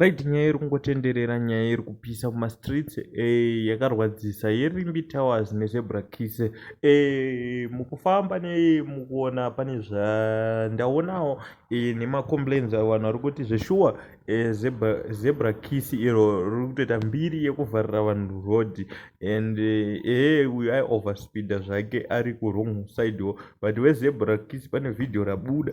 Right nyaya iri kungotenderera nyaya iri kupisa kuma streets eh, yakarwadzisa yeRimbi Towers neZebra Kiss eh, mukufamba nei mukuona pane zvandaonawo eh, nemacomplains vanhu vari kuti zveshuwa eh, zebra, zebra Kiss iro riri kutoita mbiri yekuvharira vanhu road and eh, eh uyu ai overspeeda zvake ari kuwrong side wo but weZebra Kiss pane video rabuda